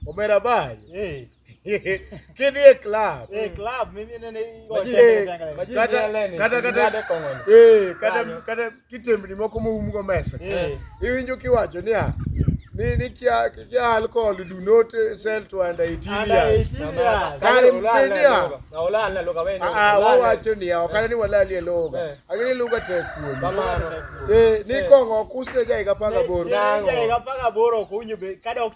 Omera bai. Eh. Kidhi e club. Eh, club mimi nene kata kata kata eh kata kata kitembni moko moumgo mesa. Eh. Iwinjo kiwacho niya ni ni kia kia alcohol do not sell to under 18 years. Kare mpendia. Na ulala loga wewe. Ah, wao wacho ni hao kana ni walali loga. Eh. Agini loga te kuomi. Kamano. Eh, ni eh. kongo kuse jai kapaga boro. Jai kapaga boro kunyo be kada ok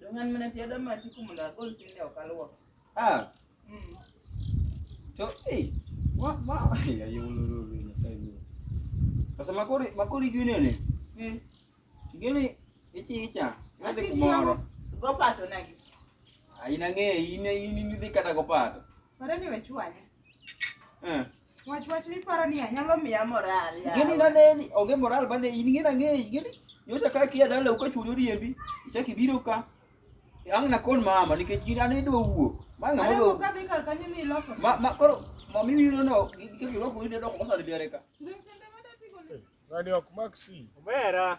Dongan mana ti ada mati kumunda gol sinde okalwo. Ah. Mm. To eh wa wa ya yo lo lo lo na sai lo. Sasa makori makori gine ne. Mm. Gine ichi icha. Nade kumoro. Go pato nagi. Aina ng'e ine ini nidhi kata go pato. Pare ni wech wanya. Eh. Wach wach ni paro ni anyalo miya moral ya. Gini na neni, onge moral bane in ngina ng'eyi gini. Nyocha ka kia dala uka chulo riembi, ichaki biro ka. Ang na kon mama nikech gina ne do wuok. Ma ng'a mo do. Ka dhi kar kanyo ni loso. Ma ma koro ma mi wiro no gike giro ko ide do ko sa de ka. Ngani ok maksi. Omera.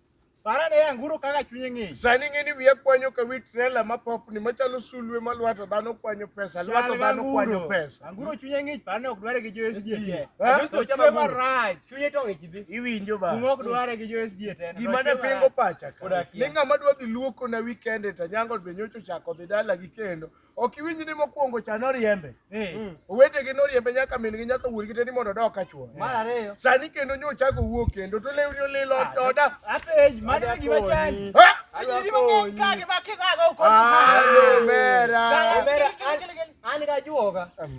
Parane yanguru kaka chunye ng'ich. Sani ng'eni wiya kwanyo ka wi trela ma popni machalo sulwe ma lwato dhano kwanyo pesa, lwato dhano kwanyo pesa. Anguro chunye ng'ich parane ok dware gi jo SDA. Ha? Kristo chama marach. Chunye to ng'ich dhi. Iwinjo ba. Kuma ok dware gi jo SDA tena. Gima ne pingo pacha ka. Koda kia. Ni ng'ama dwa dhi luoko na wikende to nyango be nyocha ochako dhi dala gi kendo. Ok iwinj ni mokwongo cha noriembe. Eh. Mm. Owetegi noriembe nyaka min gi nyaka wuon gi te ni mondo odok ka chwo. Mar ariyo. Sani kendo nyo chako wuok kendo to lewni olil ah, ot oda. Apenj mano e gima chandi. Ha? Ajiri mang'eny ka gima kikago uko. Ah, mera. Mera an ga juoga.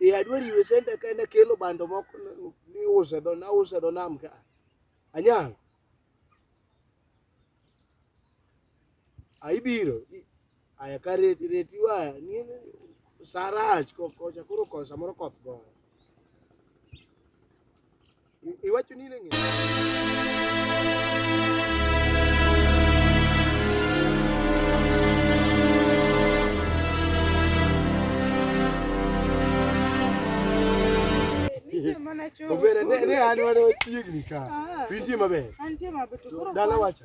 Eh, adwaro iwe senta ka en akelo bando moko n- niuso e dho nauso e dho nam ka. Anyang'. Aibiro. Aya ka reti reti waya. Ni sarach ko kocha koro kosa moro koth goyo. Iwacho ni neng'e. Obere ne ne an wana chiegni ka. Pintie maber. Antie mabeto. Dala wacha.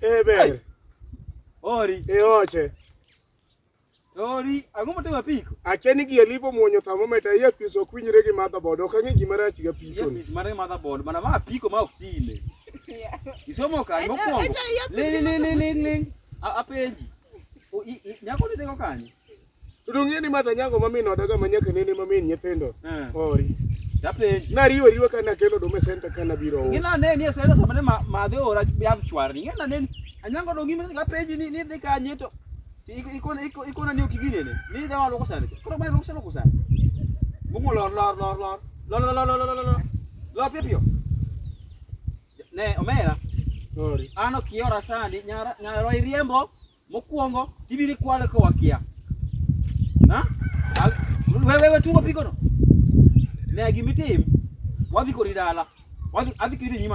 Eh ber. Ori. E oche. Ori, ang'o motimo apiko? Akia ni gie lipo muonyo thermometer iye pis ok winjre gi motherboard. Ok ang'e gima rach gi apiko. Iye pis mare motherboard, mana ma apiko ma ok sile. Isomo kanye mokwongo? Ling ling ling ling. Apenji. Nyako ni tego kanye? To dong'e ni mata nyango ma min odaga ma nyaka nene ma min nyithindo. Eh. Ori. Dapenji. Na riwo riwo kana kelo do mesenta kana biro. Ngina ne ni sero sama ne ma de ora ya chwar. Ngina ne anyango do ngima ga peji ni ni de ka nyeto. Iko iko iko na ni okigine ne. Ni da walo kusana. Koro mai kusana kusana. Bungo lor lor lor lor. Lor lor lor lor lor lor. Lor pipio. Ne omera. Ori. Ano kiora sani nyara nyara riembo. Mokuongo tibiri kwale ka wakia. Ha? Wewe wewe tungo pikono. Ne gimitim. Wadhi kori dala. Wadhi adhi kiri nyima.